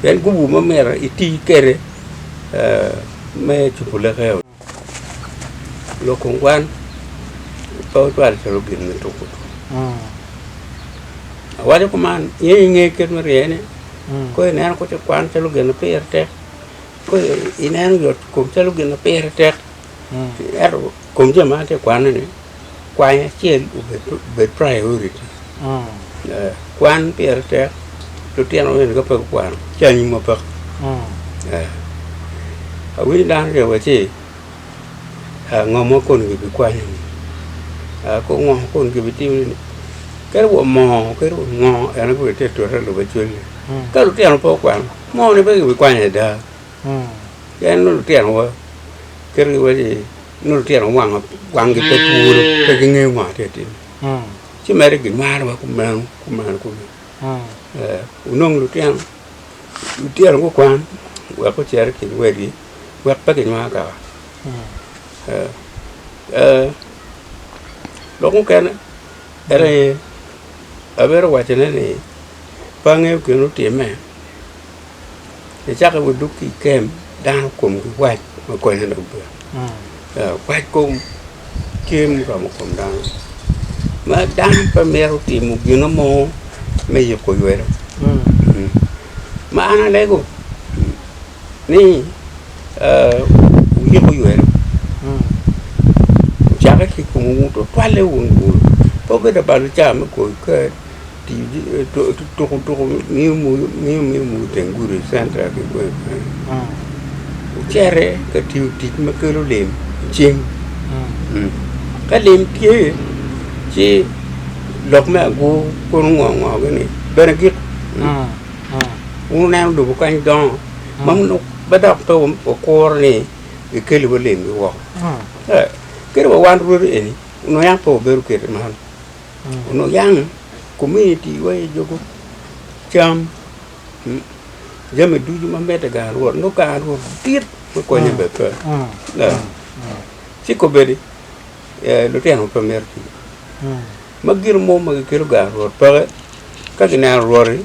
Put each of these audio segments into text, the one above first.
Pien gubu ma myero iti kwede me cupu leke loko kwan pe ocwal calo gin me tuko tuko. Awaco kuman nyo inge kit me ryene, ka ineno kit kwan calo gin ma pire tek, ka ineno yot kom calo gin ma pire tek. Ento kom jami ma an atye ka kwanoni, kwany acel obed priority. Kwan pire tek, lutino bene ka pe gukwano ci anyimwa peko. Awinyo dano ryo wa ci ngo mo koni kibikwanyoni, ko ngo mo koni kibitimoni, kadi wa mo kadi wa ngo en aye gure tye ka tute i lobo cwale. Ka lutino pe gukwano, moni pe kibikwanyo ada. Pien nongo lutinowa ketogi iwaci nongo lutino wango wangi pe twolo pe gingeyo ngo atye tim ci mere gimarowa kumeno kumeno kunu eh, wunong lutino lutino gukwan wek gucere ki luwegi wek pe ginywang kaka eh, eh, lok mukene en aye abero wacone ni pe angeyo gin otimme Icako wa dok ki i kem, dano komgi wac ma konyo dok bene. Wac kom tye muromo kom dano. Ma dano pe mito timo gino mo me yuko ywelo. Ma an alego ni ah, wuyik oywelo, wucakke ki i komwu, tutwalle wunu bur. Pe wubed labal ca me goyo kar. Tuko tuko ngiyo miyo omoko teng gudi central ki kany kany ocito ka tiyo tic ma kelo lim i cing ka lim tye ci lok me agur kono ngo ngo gini bene gik wun wuneno lobo kany dongo ma nongo pe dok pe wukuro ni kikeli wa lim ki woko kadi wa wan rwodi eni nongo yam pe wabedo kwede man. Onongo yam komuniti wa aye juko cam, jami ducu ma mitte i gang rwot, nongo gang rwot dit me konye bene pe. Ci kobedi lutino pe mito tic. Ma gin mo ma gikelo gang rwot peke ka gineno rwot-ti.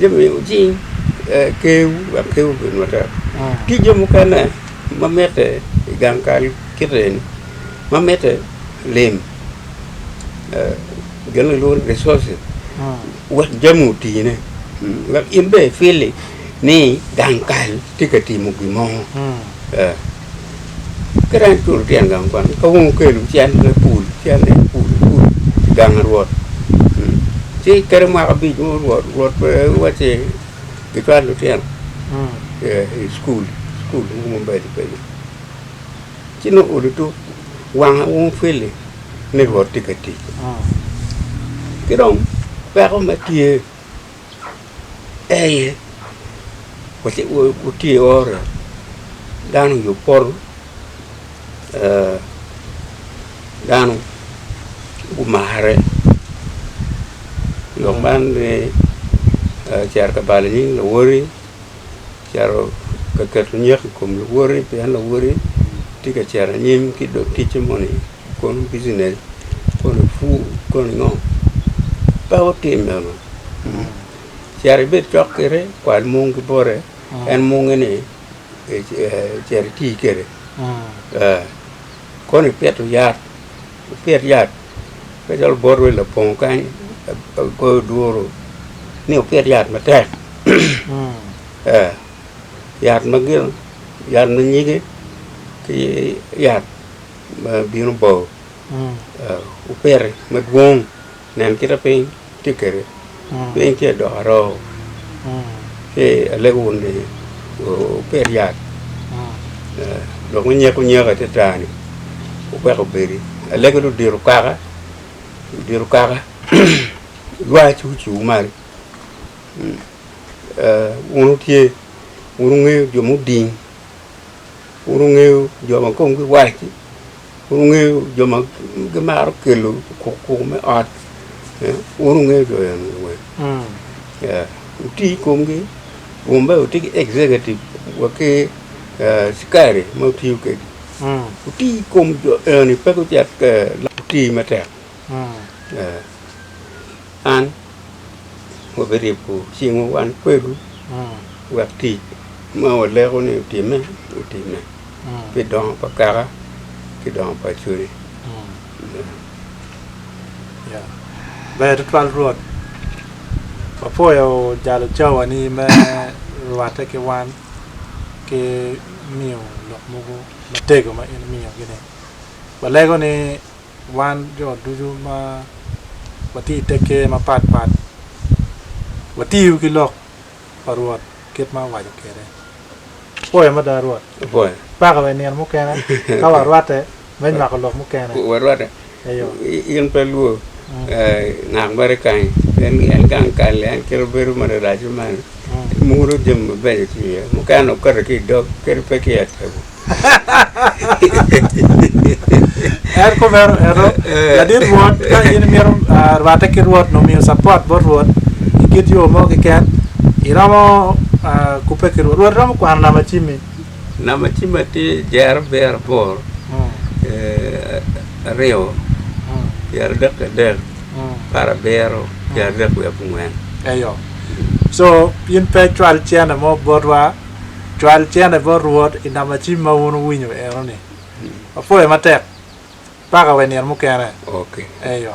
Jami wucing kewu wek kewu obed matek. Tye jo mukene ma mitte i gang kal kit eni, ma mitte lim gin ma kilwongo ni resources wek jami otine wek in bene ifili ni gang kal tye ka timo gin mo. Ki dong eculo tyen gang kwan, ka wun wukelo cen me pul, cen ni pul, pul i gang Rwot. Mm. Ci kede mwaka abic mo Rwot, Rwot pe wacci gicwal lutino eh, i cukul, cukul mo ma obedo kenyo. Ci nongo olo tuk wanga wun Fili ni Rwot tye ka tic. Ki dong peko me tye eye wutye ioro dano i yo poto dano gumare lok man ni cito ka balo nying luwodigi cito ka keto nyeko i kom lawoti pien lawoti tye ka cito anyim ki dog ticce moni kono bicinec koni pur koni ngo pe otim meno cit ibed cok kede kwal mung ki bote en munge ni cit iti kede koni pito yat Wupit yat pe calo bot wi labongo kany agoyo duru ni wupit yat matek ee yat ma gin yat ma nyige ki yat ma bino bao wupiti madwong. Nen kita piny tye kede, piny tye dok aroo, ci alego wun ni wupit yat dok wunyek unyek atata-ni wuwek obedi. Alego ni wudit okaka, wudit okaka lwa ci wuciwu malo. Wun wutye, wun wungeyo jo muding, wun wungeyo jo ma komgi wac-ci. Wungeyo jo ma gimaro kelo kukuku me ot? Wun wungeyo jo enoni weng? Wuti i komgi? Wun bene wutye ki executive wa ki cikari ma wutiyo kwedgi? Wuti i kom jo enoni pe gucek wuti matek? An wabiribo cingwu wan kwedwu wek tic ma waleko ni otimme, otimme pi dongo pa kaka ki dongo pa cwiny. Ber tutwal Rwot. Wapwoyo jalo cawani me rwatte ki wan ki miyo lok mogo matego ma in imiyogi ni. Walego ni Wan jo ducu ma watye i te ker mapat pat watiyo ki lok pa Rwot kit ma owaco kwede. Apoyo mada Rwot! Paka wa i nino mukene ka warwatte me nywako lok mukene. Warwatte, in pe lwo ngat mere i kanyi, pien en gang kal-li, en kelo bedo ma larac-ci malo, emuro jami mabeco ki iye, mukene okato ki i dog, kadi pe ki i atebo. en kumeno eno ladit Rwot ka in imito rwatte ki Rwot nyo miyo cappot bot Rwot i kit yo mo keken iromo kubbe ki Rwot. Rwot romo kwano nama cimmi. Nama cimma tye jero abiro aboro aryo pyeradek ki adek apar abiro pyeradek wiye abongwen. Eyo. So in pe icwal cene mo botwa. Cwal cene bot Rwot i namacim ma wun wuwinyo enoni. Wapwoyo matek. Paka wa i nino mukene. Eyo.